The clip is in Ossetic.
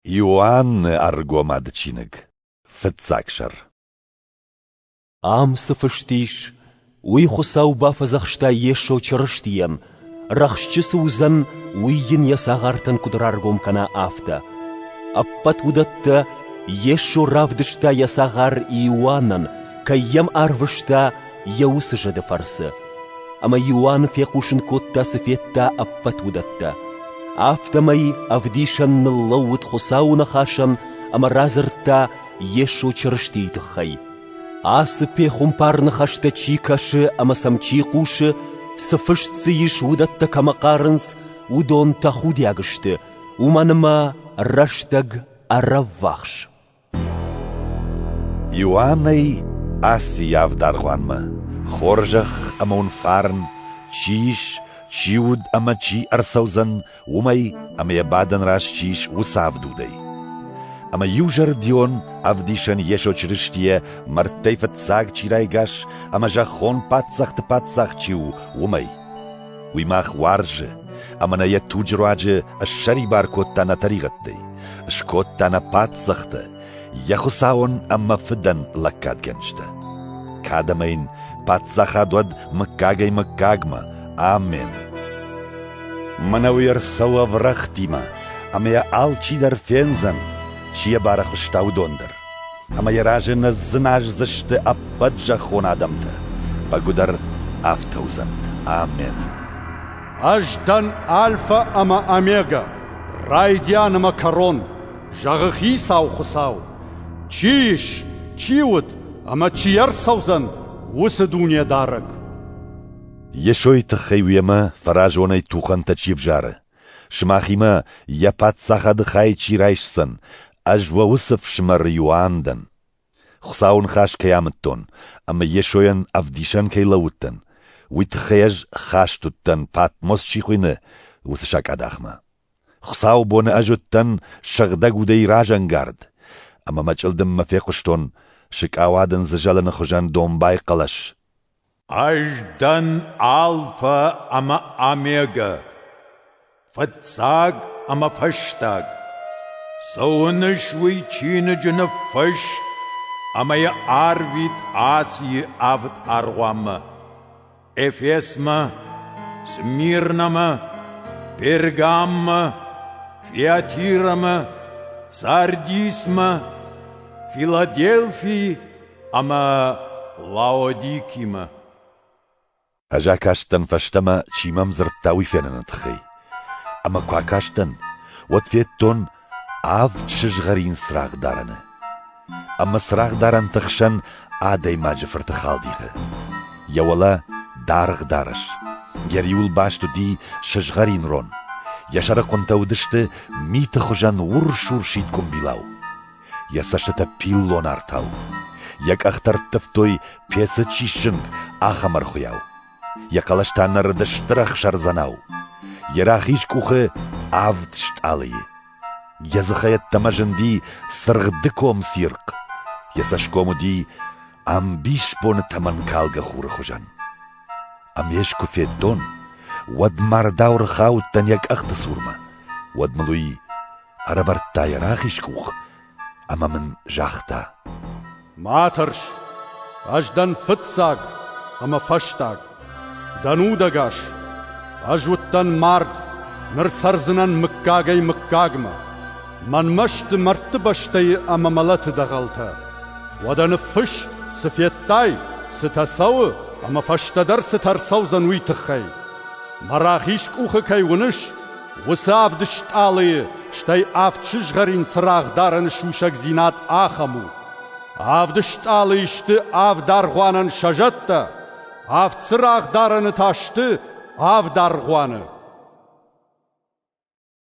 Иоанны ӕргомады чиныг, фыццаг сӕр. Ам цы фыст ис, уый Хуыцау бафӕдзӕхста Йесо Чырыстийӕн, рӕхсчы цы уыдзӕн, уый йын йӕ цагъартӕн куыд раргом кӕна, афтӕ. Ӕппӕт уыдӕттӕ Йесо равдыста йӕ цагъар Иоаннӕн, кӕй йӕм арвыста, йӕ уыцы зӕды фӕрцы, ӕмӕ Иоанн фехъусын кодта, цы федта ӕппӕт уыдӕттӕ. Афтӕмӕй ӕвдисӕн ныллӕууыд Хуыцауы ныхасӕн ӕмӕ радзырдта Йесо Чырыстийы тыххӕй. Ацы пехуымпар ныхӕстӕ чи кӕсы ӕмӕ сӕм чи хъусы, цы фыст дзы ис, уыдӕттӕ кӕмӕ хъарынц, уыдон тӕхудиаг сты, уымӕн ӕмӕ рӕстӕг ӕрӕввахс. Иоаннӕй аци явд аргъуанмӕ: хорзӕх ӕма ун фарн чи ис, чи уд ӕма чи ӕрцӕудзӕн, уомӕй ӕма йӕ бадӕн раст чи ис, уыцы ӕвдудӕй. Ӕма иузӕрдион Ӕвдисӕн Йесо Чырыстийӕ мӕрдтӕй фыццаг чи райгас ӕмӕ зӕххон паддзӕхты Паддзах чи у, уымӕй. Уый мах уарзы, ӕмӕ нӕ йӕ туджы руаджы ссӕрибар кодта нӕ тӕригъӕдтӕй, скодта нӕ паддзӕхтӕ, йӕ Хуыцауӕн ӕмӕ фыдӕн лӕггадгӕнджытӕ. Кӕд ӕмӕ йын паддзахад уӕд мыггагӕй мыггагмӕ. Амен! Мӕнӕ уый ӕрцӕуы ӕврӕгътимӕ, ӕмӕ йӕ алчидӕр фендзӕн, чи йӕ барӕхуыста, уыдон дӕр. ӕмӕ йӕ разы ныззыназдзысты ӕппӕт зӕххон адӕмтӕ. Бӕгуыдӕр афтӕ уыдзӕн. Амен! Ӕз дӕн Альфа ӕмӕ Омега, райдиан ӕмӕ кӕрон, зӕгъы Хицау Хуыцау. Чи ис, чи уыд ӕмӕ чи ӕрцӕудзӕн уыцы дунедарӕг? Йесойы тыххӕй уемӕ фӕразонӕй тухӕнтӕ чи ӕвзары, Сымахимӕ йӕ паддзахады хай чи райсдзӕн, ӕз уӕ уыцы фсымӕр Иоанн дӕн. Хуыцауы ныхас кӕй амыдтон ӕмӕ Йесойӕн ӕвдисӕн кӕй лӕууыдтӕн, уый тыххӕй ӕз хаст уыдтӕн, Патмос чи хуыйны, уыцы сакъадахмӕ. Хуыцауы боны ӕз уыдтӕн сыгъдӕг удӕй разӕнгард, ӕмӕ мӕ чъылдыммӕ фехъуыстон, сыкъауад ын дзы зӕлыны хуызӕн домбай хъӕлӕс. Ӕз дӕн Альфа ӕмӕ Омегӕ, фыццаг ӕмӕ фӕстаг. Цы уыныс уый чиныджы ныффыст ӕмӕ йӕ арвит Асийы авд аргъуанмӕ: Эфесмӕ, Смирнамӕ, Пергаммӕ, Фиатирамӕ, Сардисмӕ, Филадельфи ӕмӕ Лаодикимӕ. Ӕз акастӕн фӕстӕмӕ, чи мӕм дзырдта, уый феныны тыххӕй. Ӕмӕ куы акастӕн, уӕд федтон авд сызгъӕрин цырагъдарӕны. Ӕмӕ цырагъдарӕнты хсӕн адӕймаджы фырты халдихы. Йӕ уӕлӕ даргъ дарӕс. Йӕ риуыл баст уыди сызгъӕрин рон. Йӕ сӕрыхъуынтӕ уыдысты миты хуызӕн урс-урсид къуымбилау. йӕ цӕстытӕ пиллон артау. Йӕ къӕхтӕ ӕрттывтой, пецы чи сзынг, ахӕм ӕрхуыйау. Йӕ хъӕлӕс та нырыд стыр ӕхсӕрдзӕнау. Йӕ рахиз къухы авд стъалыйы. Йӕ дзыхӕй ӕддӕмӕ зынди цыргъдыком цирхъ. Йӕ цӕсгом уыди ӕмбисбоны тӕмӕнкалгӕ хуры хуызӕн. Ам ес куы федтон, уӕд мардау рхаудтӕн йӕ къӕхты цурмӕ. Уӕд мыл уый Ӕрӕвӕрдта йӕ рахиз къух ӕмӕ мын загъта: Ма тӕрс, ӕз дӕн фыццаг ӕмӕ фӕстаг, дӕн удӕгас, ӕз уыдтӕн мард, ныр цӕрдзынӕн мыггагӕй мыггагмӕ. Мӕнмӕ сты мӕрдты бӕстӕйы ӕмӕ мӕлӕты дӕгъӕлтӕ. Уӕдӕ ныффысс, цы федтай, цытӕ цӕуы ӕмӕ фӕстӕдӕр цытӕ ӕрцӕудзӕн, уый тыххӕй. Мӕ рахиз къухы кӕй уыныс, Уыцы авд стъалыйы, стӕй авд сызгъӕрин цырагъдарӕны сусӕгдзинад ахӕм у: авд стъалыйы сты авд аргъуанӕн сӕ зӕдтӕ, авд цырагъдарӕны та сты авд аргъуаны.